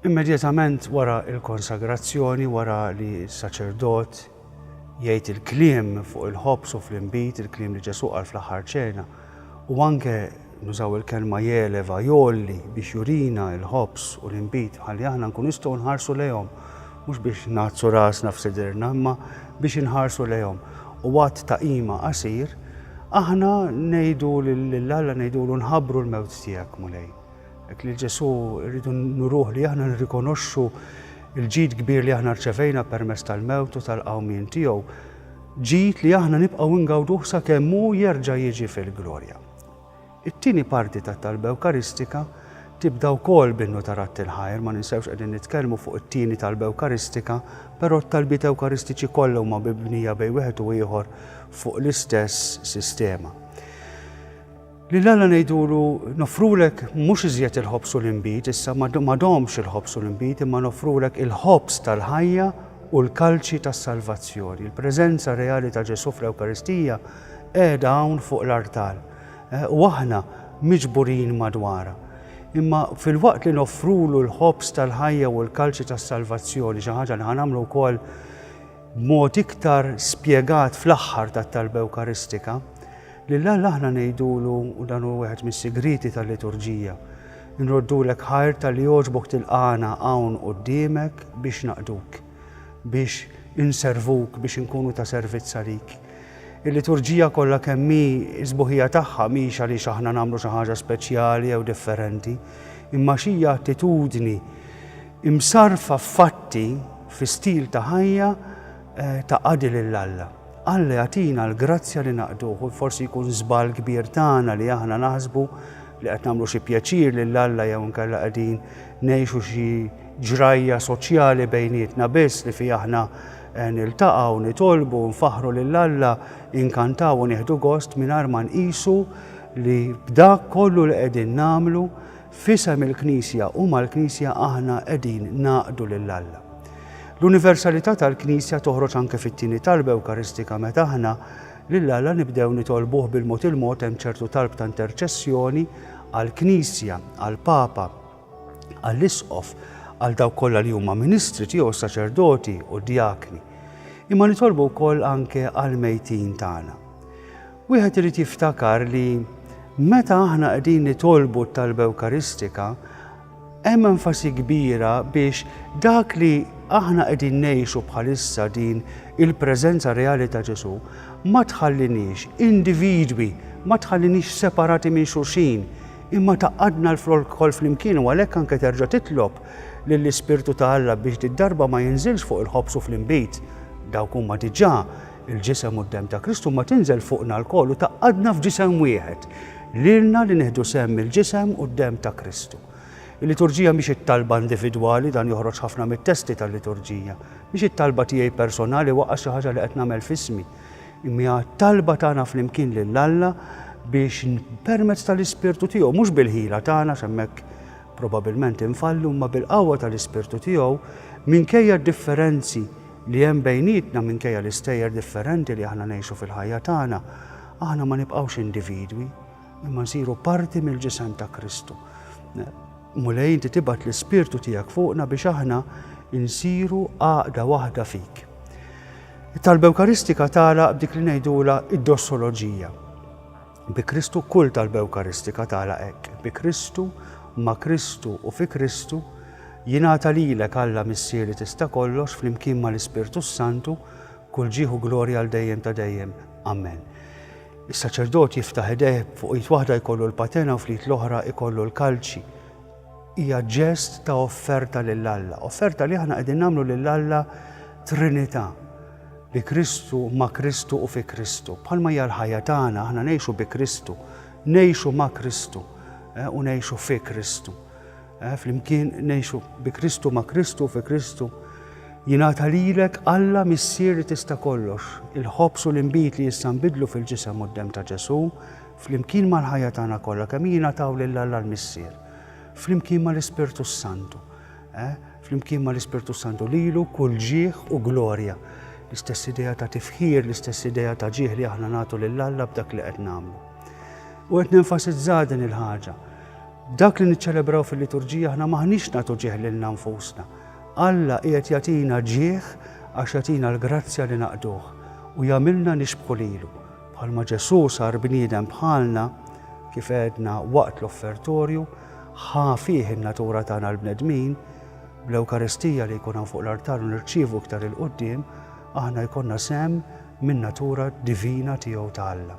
Immedjatament wara il-konsagrazzjoni, wara li s-saċerdot jgħid il-kliem fuq il-ħobs u fl-imbit, il-kliem li Ġesu qal fl-aħħar ċena, u anke Nużaw il-kelma jeleva, jgħolli, biex jurina l-ħobż u l-inbid ħalli aħna nkunu nistgħu nħarsu lejhom, mhux biex ngħaddsu rasna f'sidierna, imma biex inħarsu lejhom. U għadd ta' qima qasir, aħna ngħidu lil Alla ngħidulu nħabbru l-mewt tiegħek, Mulej. Hekk lil Ġesù rridu nuruh li aħna nirrikonoxxu l-ġid kbir li aħna rċevejna permezz tal-mewt u tal-qawmien tiegħu, ġid li aħna nibqgħu ngawduh sakemm hu jerġa' jiġi fil-glorja. It-tieni parti tat-talba Ewkaristika tibda wkoll b'Innu ta' Radd il-Ħajr, ma ninsewx qegħdin nitkellmu fuq it-tieni talba Ewkaristika, però t-talbiet Ewkaristiċi kollha huma mibnija bejn wieħed u ieħor fuq l-istess sistema. Lil Alla ngħidulu nofrulek mhux iżjed il-ħobż u l-inbid, issa ma domx il-ħobż u l-inbid, imma nofrulek il-ħobż tal-ħajja u l-kalċi tas-salvazzjoni. Il-preżenza reali ta' Ġesù fl-Ewkaristija Qiegħda hawn fuq l-artal, u aħna miġburin madwarha. Imma filwaqt li noffrulu l-ħobż tal-ħajja u l-kalċi tas-salvazzjoni, xi ħaġa li ħa nagħmlu wkoll b'mod iktar spjegat fl-aħħar tat-Talba Ewkaristika, lil Alla aħna ngħidulu, u dan hu wieħed mis-sigrieti tal-liturġija, Inroddulek ħajr talli għoġbok tilqagħna hawn quddiemek biex naqduk. biex inservuk, biex inkunu ta' servizz għalik. Il-liturġija kollha kemm hi s-sbuħija tagħha mhix għaliex aħna nagħmlu xi ħaġa speċjali jew differenti, imma xija attitudni imsarfa f'fatti fi stil ta' ħajja eh, ta' qadi lil Alla. Alla jagħtina l-grazzja li naqduh u forsi jkun żball kbir tagħna li aħna naħsbu li qed nagħmlu xi pjaċir lil Alla jew nkella qegħdin ngħixu xi ġrajja soċjali bejnietna biss li fiha aħna niltaqgħu, nitolbu, nfaħħru lil Alla, inkantaw u nieħdu gost mingħajr ma nqisu li b'dak kollu li qegħdin nagħmlu f'isem il-Knisja u mal-Knisja aħna qegħdin ngħaqdu lil Alla. L-universalità tal-Knisja toħroġ anke fit-tieni talba Ewkaristika meta aħna lil Alla nibdew nitolbuh bil-mod il-mod hemm ċertu talb ta' interċessjoni għall-Knisja, għall-Papa, għall-isqof, għal dawk kollha li huma ministri tiegħu saċerdoti u djakni. Imma nitolbu wkoll anke għal mejtin tagħna. Wieħed irid jiftakar li meta aħna qegħdin nitolbu t-talba Ewkaristika, hemm enfasi kbira biex dak li aħna qegħdin ngħixu bħalissa din il-preżenza reali ta' Ġesu ma tħallinix individwi, ma tħallinix separati minn xulxin, Imma tgħaqqadna lkoll flimkien u għalhekk anke terġa' titlob lill-Ispirtu ta' Alla biex did-darba ma jinżilx fuq il-ħobż u fl-inbid, dawk huma diġà l-Ġisem u d-Demm ta' Kristu, imma tinżel fuqna lkoll u tgħaqqadna f'Ġisem wieħed, lilna li nieħdu sehem mill-Ġisem u d-Demm ta' Kristu. Il-Liturġija mhix it-talba individwali, dan joħroġ ħafna mit-testi tal-Liturġija. Mhix it-talba tiegħi personali waqqa' xi ħaġa li qed nagħmel f'ismi. Imma t-talba tagħna flimkien lil Alla biex permezz tal-Ispirtu tiegħu, mhux bil-ħila tagħna x'hemmhekk probabilment infallu, imma bil-qawwa tal-Ispirtu tiegħu, minkejja d-differenzi li hemm bejnietna, minkejja l-istejjer differenti li aħna ngħixu fil-ħajja tagħna, aħna ma nibqgħux individwi. Imma nsiru parti mill-ġisem ta' Kristu. Mulej inti tibgħat l-ispirtu tiegħek fuqna biex aħna insiru għaqda waħda fik. It-talba Ewkaristika tala b'dik li ngħidula id-dossoloġija. Bi Kristu kull talba Ewkaristika tala hekk. Bi Kristu, ma' Kristu u fi Kristu Jingħata lilek Alla Missieri tista' kollox flimkien mal-Ispirtu Santu kull ġieħu glorja għal dejjem ta' dejjem. Amen. Is-saċerdot jiftaħ idejh, fuq id waħda jkollu l-patena u fl-id l-oħra jkollu l-kalċi. Hija ġest ta' offerta lil Alla, offerta li aħna qegħdin nagħmlu lil Alla Trinità bi Kristu, ma' Kristu u fi Kristu. Bħalma hija l-ħajja tagħna aħna ngħixu bi Kristu, ngħixu ma' Kristu eh, u ngħixu fi Kristu. Eh, flimkien ngħixu bi Kristu ma' Kristu fi Kristu. Jingħata lilek Alla missier li tista' kollox, il-ħobż u l-inbid li issa nbidlu fil-ġisem u d-dem ta' Ġesù, flimkien mal-ħajja tagħna kollha kemm jingħataw lil Alla l-Missier, flimkien mal-Ispirtu Santu, eh? flimkien mal-Ispirtu Santu lilu kull ġieħ u glorja, l-istess idea ta' tifħir, l-istess idea ta' ġieħ li aħna nagħtu lil Alla b'dak li qed nagħmlu. U qed nenfasizza din il-ħaġa Dak li niċċelebraw fil-liturġija aħna m'aħniex nagħtu ġieħ lilna nfusna. Alla qiegħed jagħtina ġieħ għax jagħtina l-grazzja li naqduh u jagħmilna nixbħu lilu. Bħalma Ġesù sar bniedem bħalna, kif għedna waqt l-offertorju, ħa fih in-natura tagħna l-bnedmin, bl-Ewkaristija li jkun hawn fuq l-artar u nirċievu iktar il-qudiem, aħna jkollna sem minn natura divina tiegħu ta' Alla.